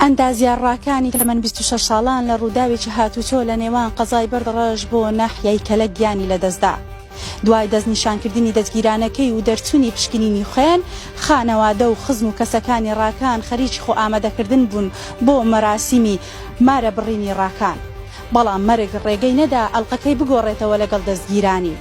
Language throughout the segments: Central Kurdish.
ئەندازیارڕاکانی تەمەن بیست و شەش ساڵان لە ڕووداوێکی هاتووچۆ لە نێوان قەزای بەردڕەش بۆ ناحیەی کەلەک گیانی لەدەستدا. دوای دەستنیشانکردنی دەستگیرانەکەی و دەرچوونی پشکنینی خوێن، خانەوادە و خزم و کەسەکانی ڕاکان خەریکی خۆئامادەکردن بوون بۆ مەراسیمی مارەبڕینی ڕاکان. بەڵام مەرگ ڕێگەی نەدا ئەڵقەکەی بگۆڕێتەوە لەگەڵ دەستگیرانی.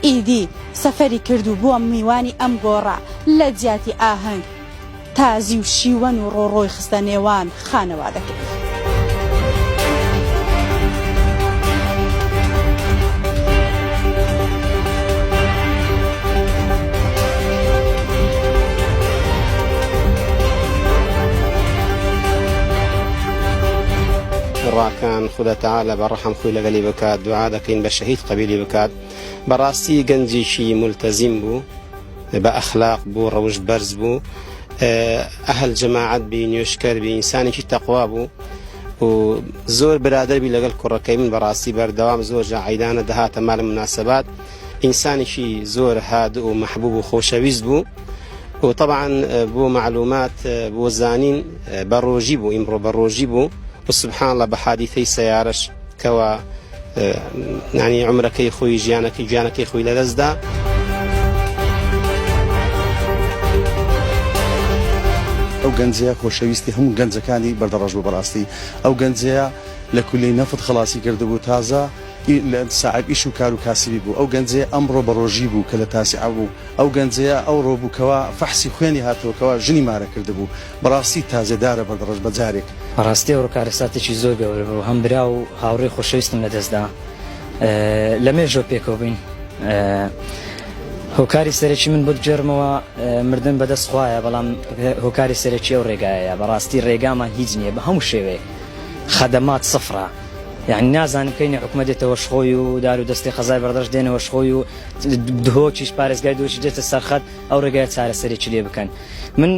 ئیدی سەفەری کرد و بووە میوانی ئەم گۆڕە لە جیاتی ئاهەنگ. تازی و شیوەن و ڕۆڕۆی خستە نێوان خانەوادەکەی. کوڕەکان خودا تەعالا بە ڕەحم خۆی لەگەلی بکات دوعا دەکەین بە شەهید قەبولی بکات بەڕاستی گەنجیکی مولتەزیم بوو. بە ئەخلاق بوو ڕەوشت بەرز بوو ئەهل جەماعەت بی نوێشکەر بی ئینسانێکی تەقوا بوو و زۆر برادەربی لەگەڵ کوڕەکەی من بەڕاستی بەردەوام زۆر جا عیدانە دەهاتە مالە مناسبات ئینسانێکی زۆر هاد و محبوب و خۆشەویست بوو و طبعا بۆ معلومات بۆ زانین بە ڕۆژی بوو ئیمڕۆ بە ڕۆژی بوو و سبحان الله بە حادیثەی سیارش کەوا یانی عومرەکەی خۆی ژیانەکەی گیانەکەی خۆی لەدەستدا. ئەو گەنجەیە خۆشەویستی هەموو گەنجەکانی بەردەڕەش بوو بەڕاستی ئەو گەنجەیە لە کولی نەفت خەڵاسی کردبوو تازە ساعب ئیش و کار و کاسبی بوو ئەو گەنجەیە ئەمڕۆ بەڕۆژی بوو کە لە تاسیعە بوو ئەو گەنجەیە ئەو ڕۆبووکەوە فەحسی خوێنی هاتووەکەوە ژنی مارە کردبوو بەڕاستی تازێدارە بەردڕەش بەجارێک. بەڕاستی ئەوڕۆ کارەساتێکی زۆر گەورە بوو هەم برا و هاوڕێی خۆشەویستم لەدەست دا لە مێژۆ پێکەوە بووین هۆکاری سەرەکی من بۆت بگێڕمەوە مردن بەدەست خوایە بەڵام هۆکاری سەرەکی ئەو ڕێگایە بەڕاستی ڕێگامان هیچ نییە بە هەموو شێوەیە خەدەمات سفرە یعنی نازانم کەی نحکومە دێتەوە شخۆی و دار و دەستی قەزای بەڕدەش دێنەوە شخۆی و دهۆکیش پارێزگای دۆچی دێتە سەرخەت ئەو ڕێگایە چارەسەرێکی لێ بکەن من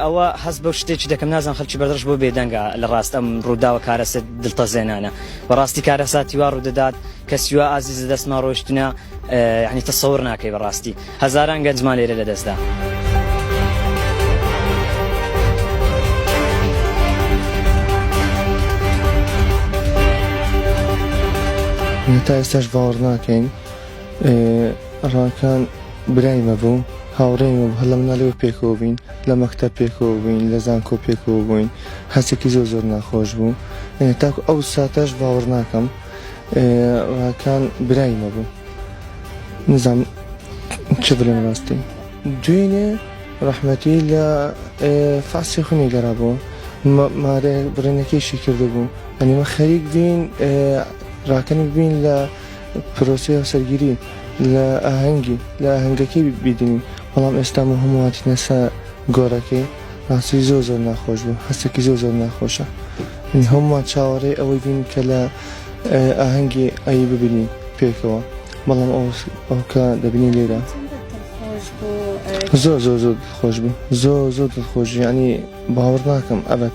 ئەوە هەست بەو شتێکی دەکەم نازان خەلکی بەردەش بۆ بێدەنگە لە ڕاست ئەم ڕووداوە کارەسە دڵتەزێنانە بەڕاستی کارەساتی وا ڕوودەدات کەسیوا ئازیز لە دەستمان ڕۆشتنە یعنی تەسەور ناکەی بەڕاستی هەزاران گەنجمان لێرە لە دەستدا. تا ئێستاش باوەڕ ناکەین ڕاکان برای مە بوو هاوڕێی مە هەر لە مناڵیەوە پێکەوە بووین لە مەکتەب پێکەوە بووین لە زانکۆ پێکەوە بووین هەستێکی زۆر زۆر ناخۆش بوو تاکو ئەو ساتەش باوەڕ ناکەم ڕاکان برای مە بوو نزام چ بلێن ڕاستی دوێنێ ڕەحمەتی لە فاسی خونی گەرا بوو مارێ بڕێنەکەیشی کردبوو ئەنیمە خەریک بین ڕاکەنی بین لە پرۆسەی هاوسەرگیری لە ئاهەنگی لە ئاهەنگەکەی بیدەین بەڵام ئێستا بۆ هەموو هاتینە سە گۆرەکەی ڕاستی زۆر زۆر ناخۆش بوو هەستێکی زۆر زۆر ناخۆشە هەمووان چاوەڕێ ئەوەی بین کە لە ئاهەنگی ئەی ببینین پێکەوە بەڵام ئەوکە دەبینی لێرە زۆر زۆر زۆر خۆش بوو زۆر زۆر دڵخۆش ینی باوەڕ ناکەم ئەبەت